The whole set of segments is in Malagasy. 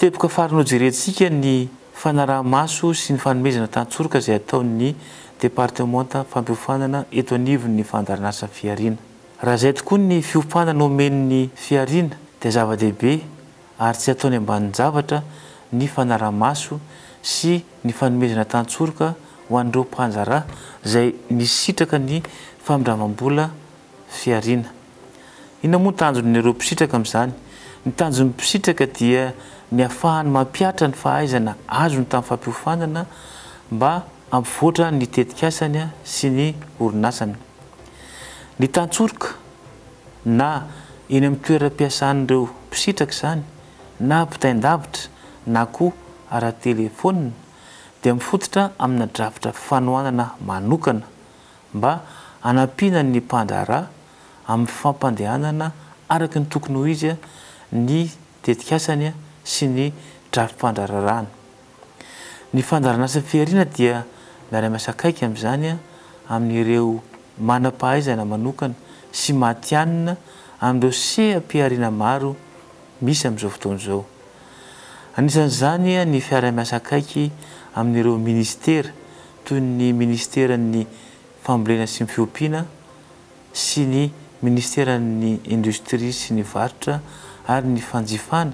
Teboka farany hojerentsika ny fanaraha-maso sy ny fanomezana tantsoroka izay ataon'ny Departemanta fampiofanana eto anivon'ny Fandaharanasa Fihariana. Raha izay tokoa ny fiompanana omen'ny Fihariana dia zava-dehibe ary tsy ataony ambanin-javatra ny fanara-maso sy ny fanomezana tantsoroka ho an'ireo mpandraharaha izay nisitraka ny famindramam-bola fihariana. Inona moa ny tanjon'ireo mpisitraka amin'izany? Ny tanjon'ny mpisitraka dia ny hahafahany mampihatra ny fahaizana azony tamin'ny fampiofanana mba hampivoatra ny tetikasany sy ny orinasany. Ny tantsoroka na eny amin'ny toeram-piasan'ireo mpisitraka izany na ampitain-davitra na koa ara-telefaonina dia mifototra amina drafitra fanohanana manokana mba hanampiana ny mpandraharaha amin'ny fampandehanana araka ny tokony ho izy ny tetikasany sy ny drafi-pandrararahany. Ny Fandaharanasa Fihariana dia miara-miasa akaiky amin'izany amin'ireo manam-pahaizana manokana sy matihanina amin'ireo seha-pihariana maro misy amin'izao fotoana izao. Anisan'izany ny fiara-miasa akaiky amin'ireo Ministera toy ny Ministeran'ny Fambolena sy ny Fiompiana, sy ny Ministeran'ny Indostria sy ny Varotra ary ny Fanjifana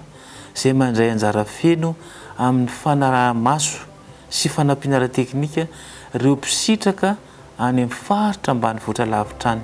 izay mandray anjara feno amin'ny fanaraha-maso sy fanampiana ara-teknika ireo mpisitraka any amin'ny faritra ambanivohitra lavitra any.